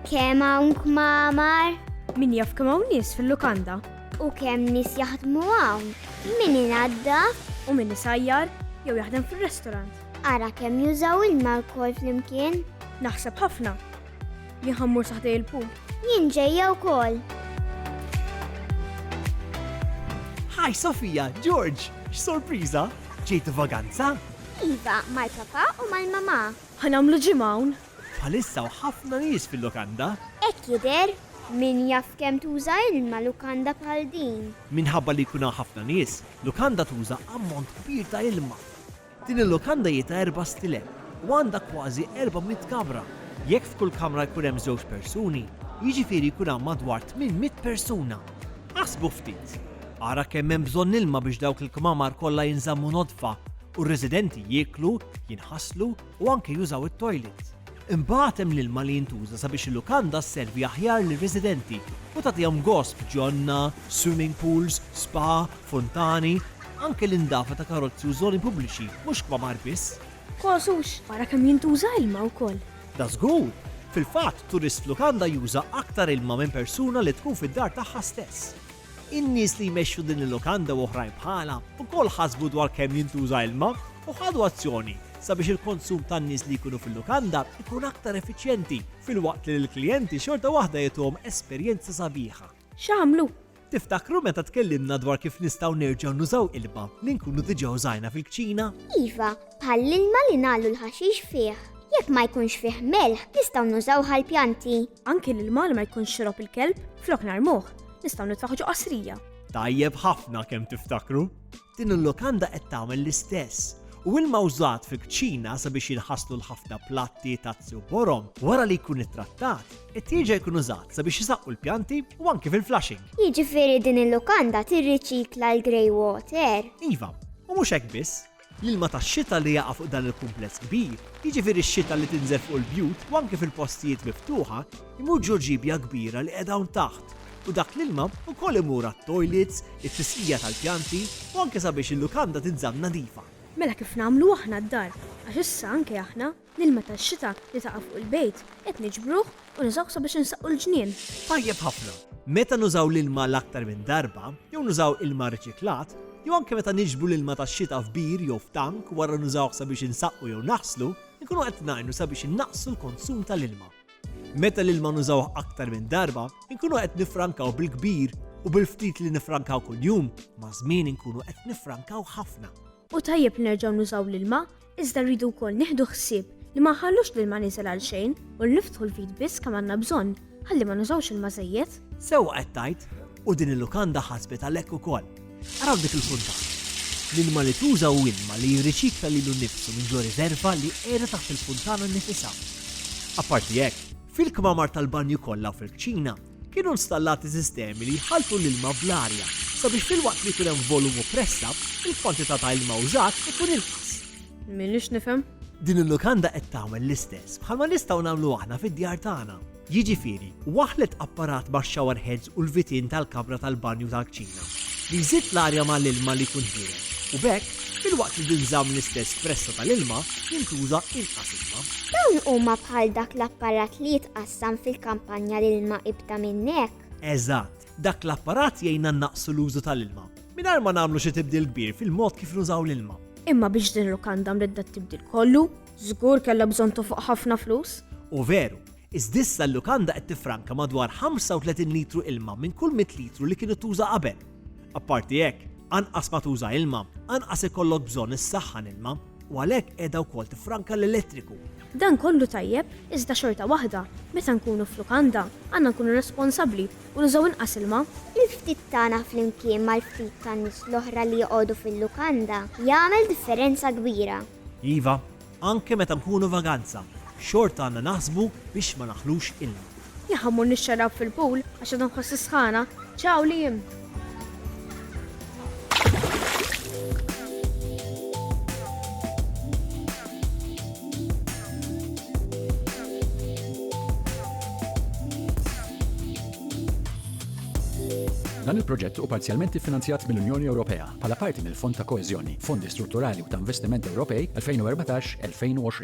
Kemm hawn kmamar? Min jaf kemm hawn nies fil-lukanda? U kemm nies jaħdmu hawn? Min inadda? U min isajjar jew jaħdem fir-restorant? Ara kemm jużaw ilma lkoll flimkien. Naħseb ħafna. Jien ħammur saħdej il-pool. Jien ġejja wkoll. Hi Sofia, George, x'sorpriża! Ġejtu vaganza? Iva, mal-papa u mal-mamà. Ħanamlu ġimgħa hawn. Bħalissa u ħafna nies fil-lukanda. Hekk jidher, min jaf kemm tuża ilma lukanda bħal din. Minħabba li jkun hawn ħafna nies, lukanda tuża ammont kbir ta' ilma. Din il-lukanda hi ta' erba' stilel u għandha kważi erba' mitt kamra. Jekk f'kull kamra jkun hemm żewġ persuni, jiġifieri jkun hawn madwar tmien mitt persuna! Aħsbu ftit! Ara kemm hemm bżonn ilma biex dawk il-kmamar kollha jinżammu nodfa u r-residenti jieklu, jinħaslu u anke jużaw it-toilet! Imbagħad hemm l-ilma li jintuża sabiex il-lukanda sservi aħjar lir-residenti u tagħtihom gost f'ġonna, swimming pools, spa, funtani, anke l-indafa ta' karozzi u żoni pubbliċi, mhux kmamar biss. Kos u xbara kemm jintuża ilma wkoll. Dażgur! Fil-fatt, turist f'lukanda juża aktar ilma minn persuna li tkun fid-dar tagħha stess. In-nies li jmexxu din il-lukanda u oħrajn bħalha wkoll ħasbu dwar kemm jintuża ilma u ħadu azzjoni sabiex il-konsum tan-nies li jkunu fil-lukanda jkun aktar effiċjenti filwaqt li lill-klijenti xorta waħda jagħtuhom esperjenza sabiħa. X'għamlu? Tiftakru meta tkellimna dwar kif nistgħu nerġgħu nużaw ilma li nkunu diġà użajna fil-kċina? Iva, bħall-ilma li ngħallu l-ħaxix fih. Jekk ma jkunx fih melħ, nistgħu nużawh għall-pjanti. Anki l-ilma li ma jkunx xorob il-kelb, flok narmuh, nistgħu nitfaħġu qasrija. Tajjeb ħafna kemm tiftakru! Din il-lukanda qed tagħmel l-istess u ilma użat fil-kċina sabiex jinħaslu l-ħafna platti, tazzi u borom, wara li jkun ittrattat, it-tieġa jkun użat sabiex jisaqqu l-pjanti u anki fil-flushing. Jiġifieri din il-lukanda tirriċikla l-grey water. Iva, u mhux hekk biss, L-ilma tax-xita li jaqa' fuq dan il-kumpless kbir, jiġifieri x-xita li tinżel fuq il-bjut u anke fil-postijiet miftuħa, imur ġo ġiebja kbira li qiegħda hawn taħt u dak l-ilma wkoll imur għat-toilets, it-tisqija tal-pjanti u anke sabiex il-lukanda tinżamm nadifa. Mela kif nagħmlu aħna d-dar? Għax issa anke aħna. L-ilma tax-xita li taqa' fuq il-bejt qed niġbruh u nużawh sabiex insaqqu l-ġnien. Tajjeb ħafna! Meta nużaw l-ilma l-aktar minn darba, jew nużaw ilma riċiklat, jew anke meta niġbru l-ilma tax-xita f'bir jew f'tank wara nużawh sabiex insaqqu jew naħslu, inkunu qed ngħinu sabiex innaqqsu l-konsum tal-ilma. Meta l-ilma nużawh aktar minn darba, inkunu qed niffrankaw bil-kbir u bil-ftit li niffrankaw kuljum, maż-żmien inkunu qed niffrankaw ħafna. Hu tajjeb li nerġgħu nużaw l-ilma Iżda rridu wkoll nieħdu ħsieb li ma nħallux l-ilma nieżel għal xejn u li niftħu l-vit biss kemm għandna bżonn ħalli ma nużawx ilma żejjed. Sewwa qed tgħid, u din il-lukanda ħasbet għalhekk ukoll. Ara f'dik il-puntata. L-ilma li tuża hu ilma li jirriċikla lilu nnifsu minn ġo riżerva li qiegħda taħt il-funtana nnifisha. Apparti hekk, fil-kmamar tal-banju kollha u fil-kċina, Kienu nstallati sistemi li jħalltu l-ilma bl-arja sabiex filwaqt li jkun hemm volum u pressa, il-kwantità ta' ilma użat ikun inqas. Minix nifhem? Din il-lukanda qed tagħmel l-istess bħalma nistgħu nagħmlu aħna fid-djar tagħna. Jiġifieri, waħlet apparat max-shower heads u l-vitin tal-kamra tal-banju tal-kċina li jżid l-arja mal-ilma li jkun ħieles u b'hekk filwaqt li tinżamm l-istess pressa tal-ilma jintuża inqas ilma. Dawn huma bħal dak l-apparat li jitqas Sam fil-kampanja l-ilma ibda minnek. Eżatt, dak l-apparat jgħinna nnaqqsu l-użu tal-ilma, mingħajr ma nagħmlu xi tibdil kbir fil-mod kif nużaw l-ilma. Imma biex din il-lukanda mridda t-tibdil kollu, żgur kellha bżonn tofoq ħafna flus. U veru, iżda issa l-lukanda qed tiffranka madwar 35 litru ilma minn kull mitt litru li kienet tuża qabel. Apparti hekk, anqas ma tuża ilma, anqas ikollok bżonn issaħħan ilma. u għalhekk qiegħda wkoll tiffranka l-elettriku. Dan kollu tajjeb, iżda xorta waħda, meta nkunu f'lukanda, għandna nkunu responsabbli u nużaw inqas ilma. Il-ftit tagħna flimkien mal-ftit tan-nies l-oħra li joqogħdu fil-lukanda jagħmel differenza kbira. Iva, anke meta nkunu vaganza, xorta għandna naħsbu biex ma naħlux ilma. Jekk ħammur nixxarrab fil-pool għax għadha nħossi sħana, ciao Liam! Dan il-proġett u parzjalment iffinanzjat mill-Unjoni Ewropea bħala parti mill-Fond ta' Koeżjoni, Fondi Strutturali u ta' Investiment Ewropej 2014-2020.